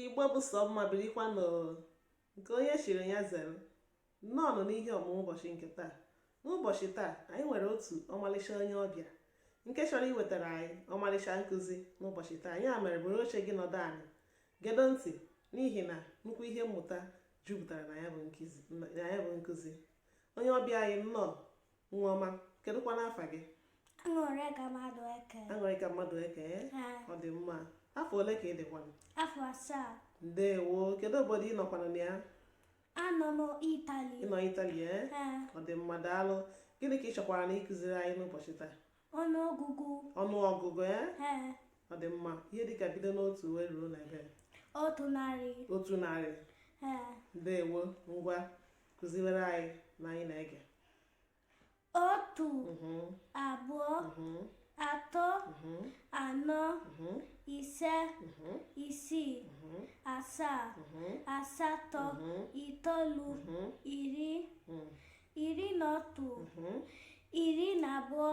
igbo bụ sọ mma birikwanụ nke onye chiri ya zere nnọọ nụ n'ihe ọmụmụ ụbọchị nke taa n'ụbọchị taa anyị nwere otu ọmalịcha onye ọbịa nke chọrọ iwetara anyị ọmalịcha nkụzi n'ụbọchị taa ya mere buru oche gị nọdụ anị gedo ntị n'ihi na nnukwu ihe mmụta jupụtara na ya bụ nkụzi onye ọbịa anyị nnọọ nwa ọma kedụkwanụ afa gị aṅụrịka madueke aṅụrịka madueke ọ dị mma afọ ole ka ị dịkwanụ afọ asaa ndewo kedu obodo ị nọkwanụ na ya anọ m itali ị nọ itali e ọ dị mma daalụ gịnị ka ị chọkwaranụ ịkụziri anyị n'ụbọchị taa ọnụọgụgụ ọnụọgụgụ e ọ dị mma ihe dịka bido n'otu wee ruo na ebe otu narị otu narị ndewo ngwa kụziwere anyị na anyị na-ege otu mm-hmm. abụọ mm-hmm. atọ mm-hmm. anọ ise isii asaa asatọ itoolu iri iri na otu iri na abụọ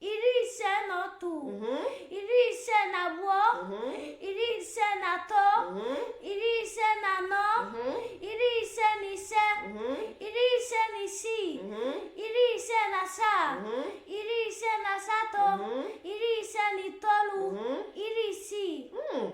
iri ise na otu mhm. iri ise na abụọ mhm. iri ise na atọ mhm. iri ise na anọ iri ise na ise iri ise na isii iri ise na asaa iri ise na asatọ iri ise na itoolu iri isii hmm.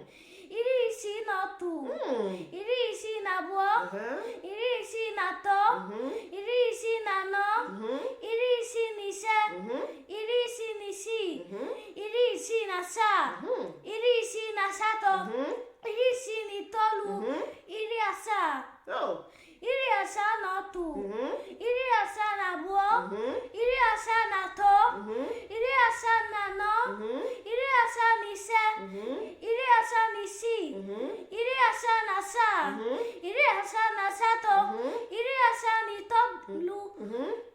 iri isii na otu Mm. iri isii na abụọ Aha. iri isii na atọ Mhm. iri isii na anọ Mhm. iri isii na ise Mhm. iri isii na isii Mhm. iri isii na asaa Mhm. iri isii na asatọ Mhm. iri isii na itoolu Mhm. iri asaa Oh, iri asaa na otu mhm. iri asaa na abụọ mhm. iri asaa na atọ mhm. iri asaa na anọ iri asaa na ise iri asaa na isii iri asaa na asaa iri asaa na asatọ iri asaa na itoolu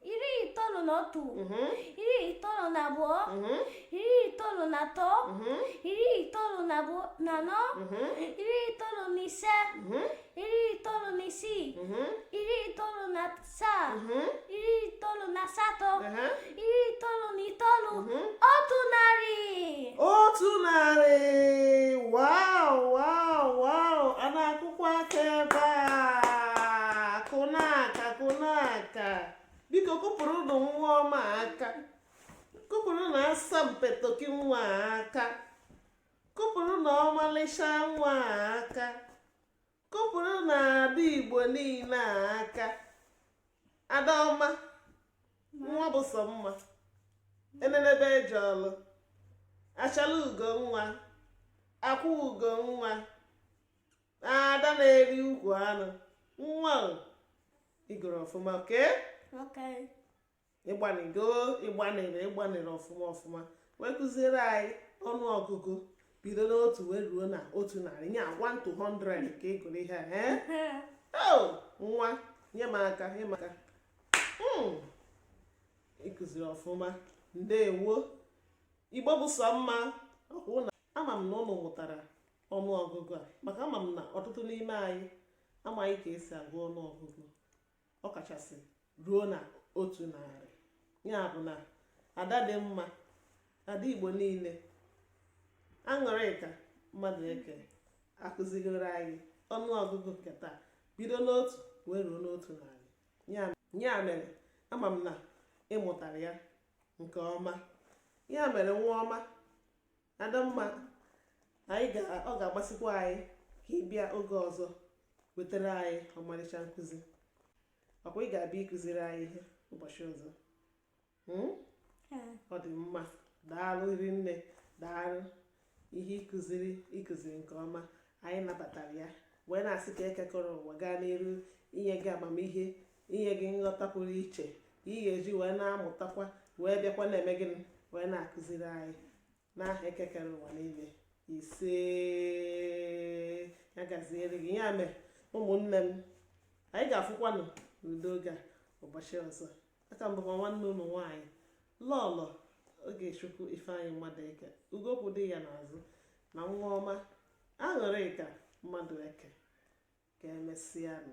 iri itoolu na otu mhm. iri itoolu na abụọ mhm. iri itoolu na atọ mhm. iri itoolu na anọ iri itoolu na ise iri itoolu na isii iri itoolu na asaa iri itoolu na asatọ iri itoolu na itoolu otu narị otu narị wow wow wow a na-akụkwa aka ebe a ka biko kụpụrụnụ nwa ọma aka kụpụrụnụ asampetoki nwa aka kụpụrụnụ ọmalịcha nwa aka kụpụrụnụ ada igbo niile aka ada ọma nwa bụ sọ mma enenebe eje ọlụ achala ugo nwa akwụ ugo nwa ada na-eri ukwu anụ nwa ịgụrụ ọfụma okay ịgbanịgo ịgbanịrị ịgbanịrị ọfụma ọfụma wee kụziere anyị ọnụ ọgụgụ bido n'otu wee ruo na otu narị nye 1 to 100 ka ịgụrụ ihe a oh, nwa nye m aka nye m aka hmm. ịkụziri ọfụma ndewo igbo bụ sọ mma ọkwa na ama m na ụnụ mụtara ọnụọgụgụ a maka ama m na ọtụtụ n'ime anyị amaghị ka esi agụ ọnụọgụgụ ọkachasị ruo na otu narị ya bụ na ada dị mma ada igbo niile aṅụrịka madụeke akụzigoro anyị ọnụọgụgụ nke taa bido n'otu wee ruo n'otu narị ya mere ama m na ịmụtara ya nke ọma ya mere nwa ọma adamma anyị ga ọ ga-amasịkwa anyị ka ị bịa oge ọzọ wetara anyị ọmarịcha nkụzi ọkwa ị ga-abịa ịkụziri anyị ihe ụbọchị ọzọ hmm? ọ dị mma daalụ rinne daalụ ihe ịkụziri ịkụziri nke ọma anyị nabatara ya wee na-asị ka eke kere ụwa gaa n'iru inye gị amamihe inye gị nghọta pụrụ iche ka ị ga-eji wee na-amụtakwa wee bịakwa na-eme gịnị wee na-akụziri anyị n'aha eke kere ụwa niile ise ya gaziere gị ya mere ụmụnne m anyị ga-afụkwanụ n'ụdị oge a ụbọchị ọzọ aka m bụkwa nwanne ụnụ nwaanyị lọlọ ogechukwu ifeanyị madụeke ugo kwụ di ya n'azụ na nwa ọma aṅụrịka madụeke ka emesịanụ